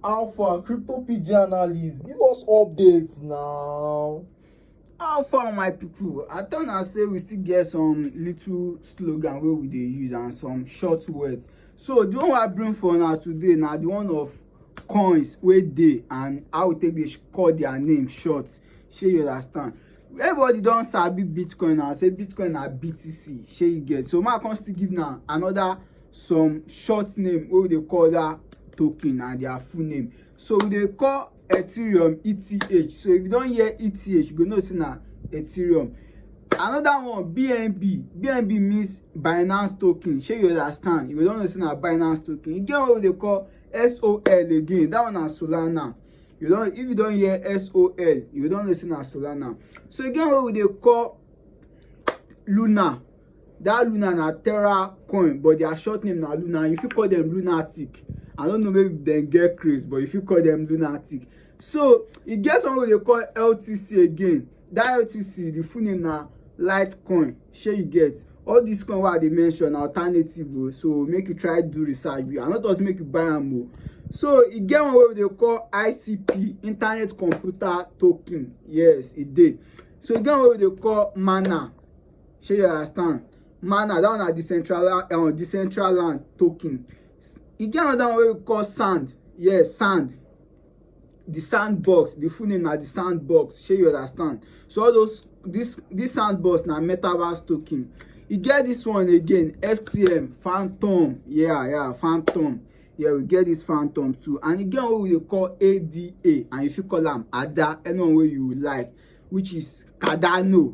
Alpha, crypto PG analyst, give us updates now. How far, my people? I turn and say we still get some little slogan where we they use and some short words. So the one I bring for now today now the one of coins where they and I will take this call their name short. Shey you understand? Everybody don sabi Bitcoin and say Bitcoin na BTC. Shey you get? So my come still give now another some short name wey we dey call that token and their full name so we dey call ethereum eth so if you don hear eth you go know say na ethereum another one bnb bnb means binance token shey you understand you go don know say na binance token e get one wey dey call sol again that one na solana you don if you don hear sol you go don know say na solana so e get one wey we dey call luna that luna na terra coin but their short name na luna you fit call them lunatic i don't know maybe dem get craze but you fit call them lunatic so e get someone wey dey call ltc again that ltc the full name na litecoin shey you get all this coin wey i dey mention na alternative o oh, so make you try do research i no talk say make you buy am o oh. so e get one wey we dey call icp internet computer token yes e dey so e get one wey we dey call mana shey you understand mana that one na decentral uh, decentral land token e get another one wey we call sand yes sand the sandbox the full name na the sandbox shey you understand so all those this this sandbox na metaverse token e get this one again ftm phantom yeah yeah phantom yeah we get this phantom too and e get one wey we dey call ada and you fit call am ada anyone wey you like which is cardano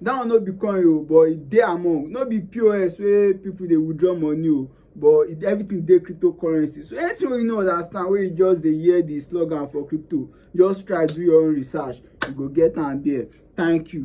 that one no be coin o but e dey among no be pos wey people dey withdraw money o but e, everything dey cryptocurrency so anything wey you no understand wey you just dey hear the slogan for crypto just try do your own research you go get am there thank you.